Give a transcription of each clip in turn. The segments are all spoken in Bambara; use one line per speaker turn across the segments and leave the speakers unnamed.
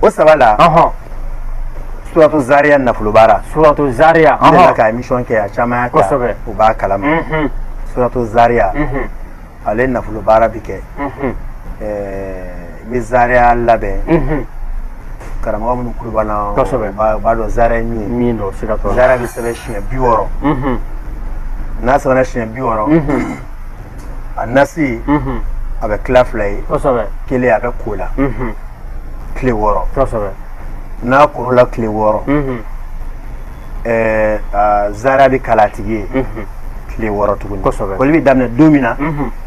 o saba la suratu zaria nafolo baara suratu
zaria ne la ka émission kɛ
a caman y'a ta u b'a kalama suratu zaria ale nafolo baara bi kɛ n bɛ zaria labɛn karamɔgɔ minnu tulo b'an na u b'a dɔn zaria ye min ye zaria bɛ sɛbɛn siɲɛ bi wɔɔrɔ n'a sɛbɛnna siɲɛ bi wɔɔrɔ a nasi a bɛ tila fila ye kelen a bɛ ko a la tile wɔɔrɔ n'a kor'a la tile wɔɔrɔ zaria bɛ kalan a tigi ye tile wɔɔrɔ tuguni koli bɛ daminɛ don min na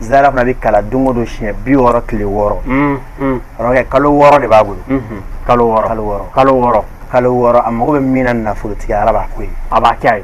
zaria fana bɛ kalan don o don siɲɛ bi wɔɔrɔ tile wɔɔrɔ kɛ kalo wɔɔrɔ de b'a bolo kalo wɔɔrɔ a mago bɛ min na nafolotigiya ala b'a k'o ye a b'a kɛ ye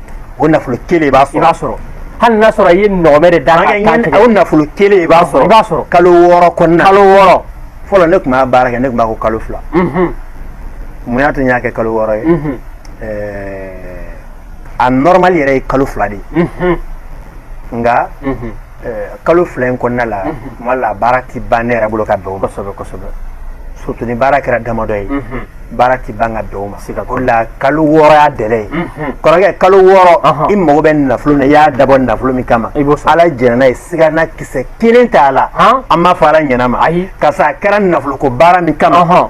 o nafolo kelen i b'a sɔrɔ i b'a sɔrɔ hali n'a sɔrɔ
i ye ɲɔgɔmɛ de da k'a kan tigɛ o
nafolo kelen i b'a sɔrɔ i b'a sɔrɔ kalo wɔɔrɔ kɔnɔna kalo wɔɔrɔ
fɔlɔ ne tun b'a
baara kɛ ne tun b'a ko kalo fila mun y'a to n y'a kɛ kalo wɔɔrɔ ye a normal yɛrɛ ye kalo fila de ye nka kalo fila in kɔnɔna la tuma la baara tɛ ban ne yɛrɛ bolo ka bɛn kosɛbɛ kosɛbɛ surtout ni baara kɛra damadɔ ye baara tɛ ban ka bɛn o ma o la kalo wɔɔrɔ y'a délai ye kɔrɔkɛ kalo wɔɔrɔ i mago bɛ nafolo na i y'a dabɔ nafolo min kama ala jɛnna n'a ye sigana kisɛ kelen t'a la an b'a fɔ ala ɲɛna ma ayi karisa a kɛra nafoloko baara min kama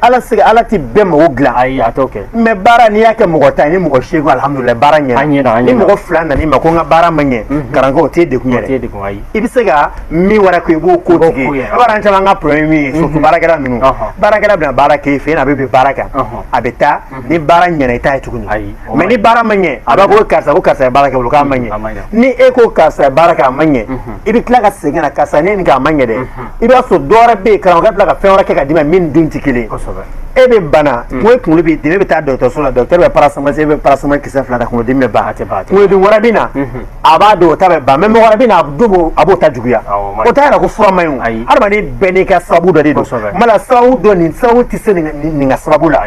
ala sigi ala tɛ bɛɛ mago dilan ayi a kɛ mais baara n'i y'a kɛ mɔgɔ tan ni mɔgɔ seegin alihamudulilayi baara ɲɛna ni mɔgɔ fila nan'i ma ko n ka baara ma ɲɛ karamɔgɔ o t'e degun ayi i bɛ se ka min wɛrɛ ko i b'o ko baara caman ka problème min ye surtout baarakɛla ninnu baarakɛla bɛna baara k'e fɛ a bɛ bɛ baara kan a bɛ taa ni baara ɲɛna i t'a ye tuguni ayi mais ni baara ma ɲɛ a b'a ko karisa ko karisa ye baara kɛ k'a ma ɲɛ ni e ko karisa ye baara kɛ a ma ɲɛ i bɛ tila ka segin karisa ne nin k'a ma ɲɛ dɛ i b'a sɔrɔ dɔ wɛrɛ bɛ yen karamɔgɔ ka tila ka fɛn wɛrɛ kɛ ka d'i ma min dun tɛ kelen ye e bɛ bana ko e kunkolo b'i dimi e bɛ taa dɔgɔtɔrɔso la dɔgɔtɔrɔ bɛ paracétamol e bɛ paracétamol kisɛ fila ta kunkolodimi bɛ ban a tɛ ban kunkolodimi wɛrɛ bɛ na a b'a dɔn o ta bɛ ban mais mɔgɔ wɛrɛ bɛ na a dun b'o a b'o ta juguya o t'a yira ko fura man ɲi o hadamaden bɛɛ n'i ka sababu dɔ de don kuma la sababu dɔ nin sababu tɛ se nin ka sababu la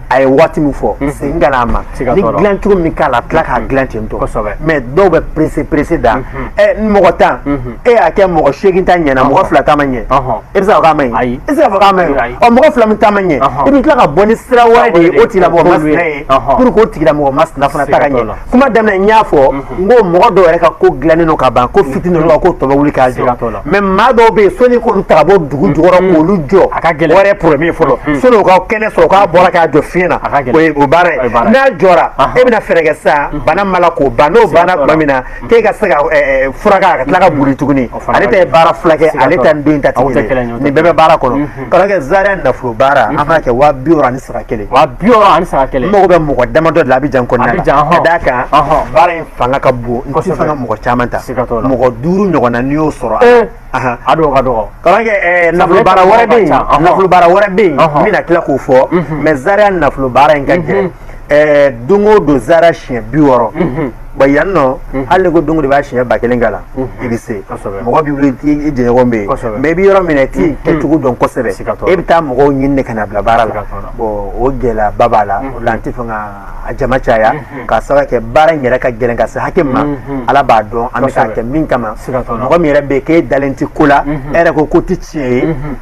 a ye waati min fɔ mhm. segin ka n'a ma ni dilan cogo min k'a la tila k'a mhm. dilan ten tɔ mais dɔw bɛ pressé pressé dɛ mhm. ɛ n mɔgɔ tan e y'a kɛ mɔgɔ seegin ta ɲɛna mɔgɔ fila ta ma ɲɛ e bɛ se ka fɔ k'a ma ɲi e tɛ se ka fɔ k'a ma ɲi ɔ mɔgɔ fila min ta ma ɲɛ i bɛ tila ka bɔ ni sira wɛrɛ de ye o tigilamɔgɔ masina ye pour que o tigilamɔgɔ masina fana ta ka ɲɛ kuma daminɛ n y'a fɔ n ko mɔgɔ dɔw yɛrɛ ka ko dilannen don ka ban ko fitinin dɔrɔn ko tɔ bɛ wuli k'a jɔ mais maa dɔw bɛ yen sɔnni k'olu ta ka bɔ dugu jukɔrɔ k'olu jɔ a ka gɛlɛn o yɛrɛ problème fɔlɔ sɔnni o ka kɛnɛ sɔrɔ k'a bɔra k'a jɔ fiɲɛ na o ye o baara ye n'a jɔra e bɛna fɛɛrɛ kɛ sa bana ma la k'o ban n'o banna tuma min na k'e ka se k'a furakɛ a ka tila ka boli tuguni ale ta ye baara fila kɛ ale ta ni dɔ in ta tɛ kelen nin bɛɛ bɛ baara kɔnɔ karamɔgɔkɛ zaria nafolo baara an b'a kɛ waa bi wɔɔrɔ ani sara kelen mago bɛ mɔgɔ damadɔ de la Abidjan kɔnɔna la ka d'a kan baara in fanga ka bon n tɛ fɛ ka mɔgɔ caman ta mɔgɔ duuru ɲɔgɔnna n'i y'o sɔrɔ a dɔw ka dɔgɔ karamɔgɔkɛ nafolo baara wɛrɛ bɛ yen n bɛna tila k'o fɔ mais zaria nafolo baara in ka gɛlɛn ɛɛ don o don zaria siɲɛ bi wɔɔrɔ bɔ yan nɔ hali ni ko don o don i b'a siɲɛ ba kelen k'a la i bɛ se mɔgɔ b'i wuli i jɛɲɔgɔn bɛ yen mais i bɛ yɔrɔ min na i t'i kɛcogo dɔn kosɛbɛ e bɛ taa mɔgɔw ɲini de ka na bila baara la bon o gɛlɛyaba b'a la o la n tɛ fɛ ka a jama caya k'a sababu kɛ baara in yɛrɛ ka gɛlɛn ka se hakɛ min ma ala b'a dɔn an bɛ k'a kɛ min kama mɔgɔ min yɛrɛ bɛ yen k'e dalen tɛ ko la e yɛrɛ ko ko tɛ tiɲɛ ye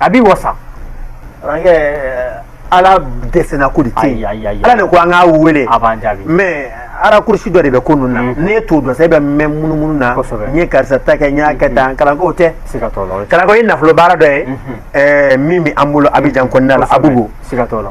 a b'i wasa karamɔgɔkɛ ala dɛsɛna ko de tɛ yen Ayi, ayi, ayi. ala de ko an k'a wele a b'an jaabi mais arakurusi dɔ de bɛ ko ninnu na n'e t'o dɔn sa e bɛ mɛn munumunu na Kosɛbɛ. n ye karisa ta kɛ n y'a kɛ tan kalanko tɛ siga t'o la o ye kalanko ye nafolo baara dɔ ye ɛɛ, min bɛ an bolo Abidjan kɔnɔna la Abobo siga t'o la